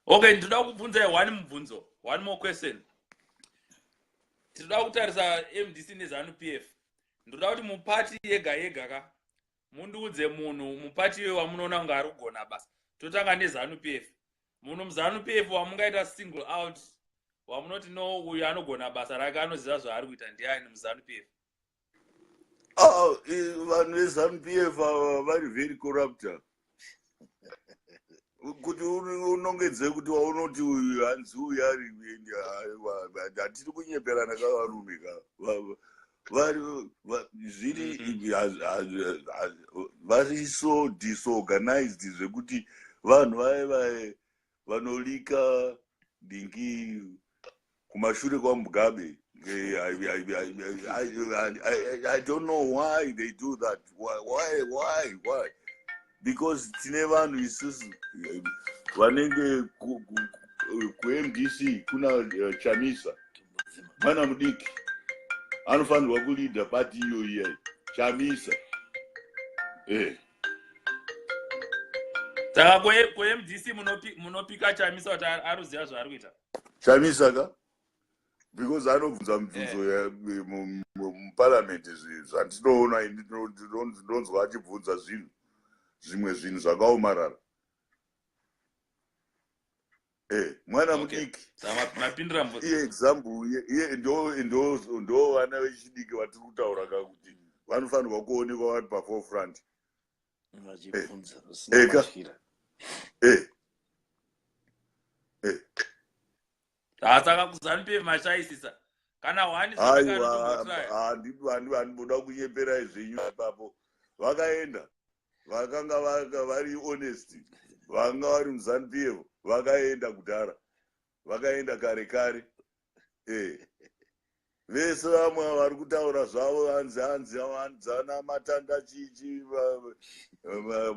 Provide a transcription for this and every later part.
okay ndinoda kubvunza one mubvunzo one more question tinoda kutarisa mdc nezanu p f ndoda kuti mupati yega yega ka mundiudze munhu mupati iwe wamunoona kunge ari kugona basa totanga nezanu p f munhu muzanu p f wamungaita single out wamunoti no uyu anogona basa rake anoziva zvaari kuita ndiani muzanu p f Oh, eh, vanhu veZanu PF ava vari very corrupter. Kuti uri- unongedze kuti waunoti uyu hanzi uyu ari kuenda, aiwa, hatiri kunyeperana ka varume ka. Va- va- Vari va- zviri haz- haz- haz- vari so disorganized zvekuti vanhu vaye vaye vanolika dingi kumashure kwamugabe eh, I, I, I, I, I don't know why they do that why why why, why? because tine vanhu isusu eh, vanenge kumdc kuna eh, chamisa mwana mudiki anofanirwa kulida pati iyo iyai chamisa eh. saka kumdc munopika chamisa kuti aruziva zvaari kuita chamisa ka because anobvunza mibvunzo eh. muparliament zvandinoona ini ndinonzwa achibvunza zvinhu zvimwe zvinhu zvakaomarara eh, mwana mudiki iye example iye ndo vana vechidiki vatiri kutaura ka kuti vanofanirwa kuonekwa vari pafore front vachibvunza usina Eka. matyira Eh. Eh. Ah, saka kuzanupf mashaisisa kana wani aiwa handido handido handimboda kunyeperai zvenyu ipapo vakaenda vakanga vaka- vari honest vanga vari muzanupf vakaenda kudhara vakaenda kare kare eh. vese vamwe vari kutaura zvavo vanzi hanzi vanzana matanda chichi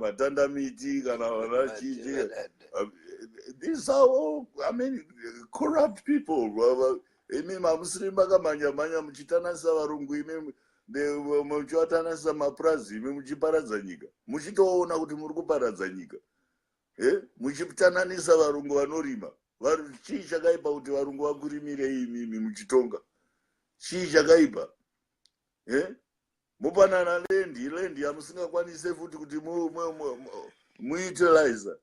matanda miti kana vana chichi these are all i mean corrupt people imi mamusiri makamhanya mhanya muchitananisa varungu imi muchivatananisa mapurazi imi muchiparadza nyika muchitoona kuti muri kuparadza nyika eh, muchitananisa varungu vanorima chii chakaipa kuti varungu vakurimire imimi muchitonga chii chakaipa eh? mupanana lendi lendi yamusingakwanise futi kuti muutilize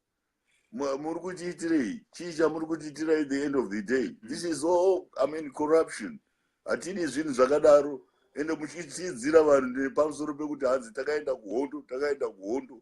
muri kutiitirei chii chamuri kutiitirai the end of the day mm. this is all i mean corruption hatidi zvinhu zvakadaro ende muchitiidzira vanhu nepamusoro pekuti hanzi takaenda kuhondo takaenda kuhondo